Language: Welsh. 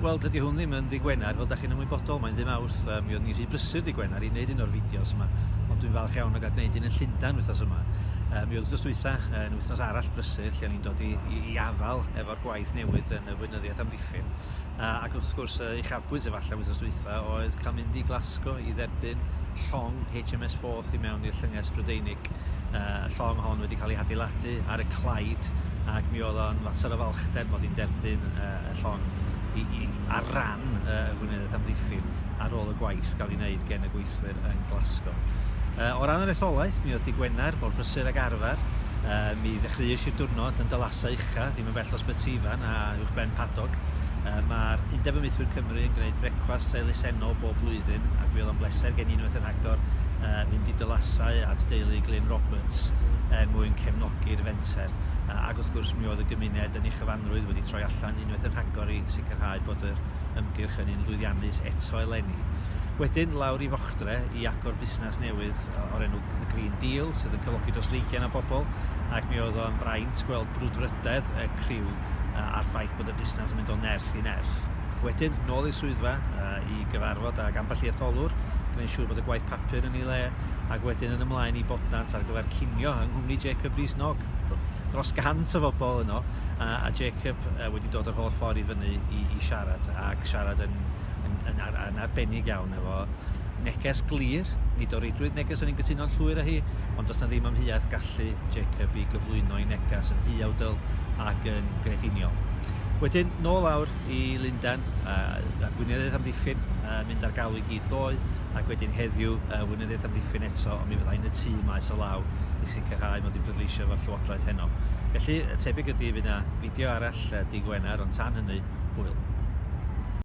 Wel, dydy hwn ddim yn ddi Gwener, fel da chi'n ymwybodol, mae'n ddim awrth. Um, mi oedd ni rhy brysur ddi Gwener i wneud un o'r fideos yma, ond dwi'n falch iawn o gael gwneud un yn Llundain wythnos yma. Um, mi oedd wythnos dwytha, yn wythnos arall brysur, lle o'n i'n dod i, i, i afal efo'r gwaith newydd yn y weinyddiaeth amddiffyn. Uh, ac wrth gwrs, uh, uchafbwynt efallai wythnos dwytha oedd cael mynd i Glasgow i dderbyn llong HMS Forth i mewn i'r llynges Brydeinig. ac yy y llong hon wedi ca'l ei hadeiladu ar y Clyde ac mi o'dd o'n fater o falchder mod i'n derbyn yy y llong i i ar ran yy y Gweinyddiaeth Amddiffyn ar ôl y gwaith ga'l 'i wneud gen y gweithwyr yn Glasgow. Yy o ran yr etholaeth mi o'dd dy' Gwener mor brysur ag arfer yy mi ddechreuesh i'r diwrnod yn dy lasau ucha, mewn fell dros Betsyfan a uwchben Padog. Yy ma'r Undeb Ymieithwyr Cymru yn gwneud brecwast elusennol bob blwyddyn ac mi oedd o'n bleser gen i unwaith yn rhagor yy fynd i dylasau at deulu Glyn Roberts er mwyn cefnogi'r fenter. Yy ac wrth gwrs mi oedd y gymuned yn ei chyfanrwydd wedi troi allan unwaith yn rhagor i sicrhau bod yr ymgyrch yn un lwyddiannus eto eleni. Wedyn lawr i Fochtre i agor busnes newydd o'r enw The Green Deal sydd yn cyflogi dros ddeugain o bobl ac mi oedd o'n fraint at gweld brwdfrydedd y criw a'r ffaith bod y busnes yn mynd o nerth i nerth. Wedyn, nôl i'r swyddfa i gyfarfod ag ambell i etholwr, gwneud siŵr bod y gwaith papur yn ei le, ac wedyn yn ymlaen i Bodnant ar gyfer cinio yng nghwmni Jacob Rees-Mogg. Dros gant o fobl yno, a, a Jacob wedi dod yr holl ffordd i fyny i, i siarad, ac siarad yn, yn, yn, ar, yn arbennig iawn efo Neges glir, nid o reidrwydd neges o'n i'n gytuno'n llwyr â hi, ond does 'na ddim amheuaeth gallu Jacob i gyflwyno ei neges yn huawdl ac yn grediniol. Wedyn, nôl awr i Lundain, uh, a'r gweinyddiaeth amddiffyn, uh, mynd ar galw i gyd ddoe, ac wedyn heddiw, uh, weinyddiaeth amddiffyn eto, ond mi fyddai yn y tŷ maes o law i sicrhau mod i'n pleidleisio efo'r llywodraeth heno. Felly, tebyg ydy fydd yna fideo arall uh, di Gwener, ond tan hynny, hwyl.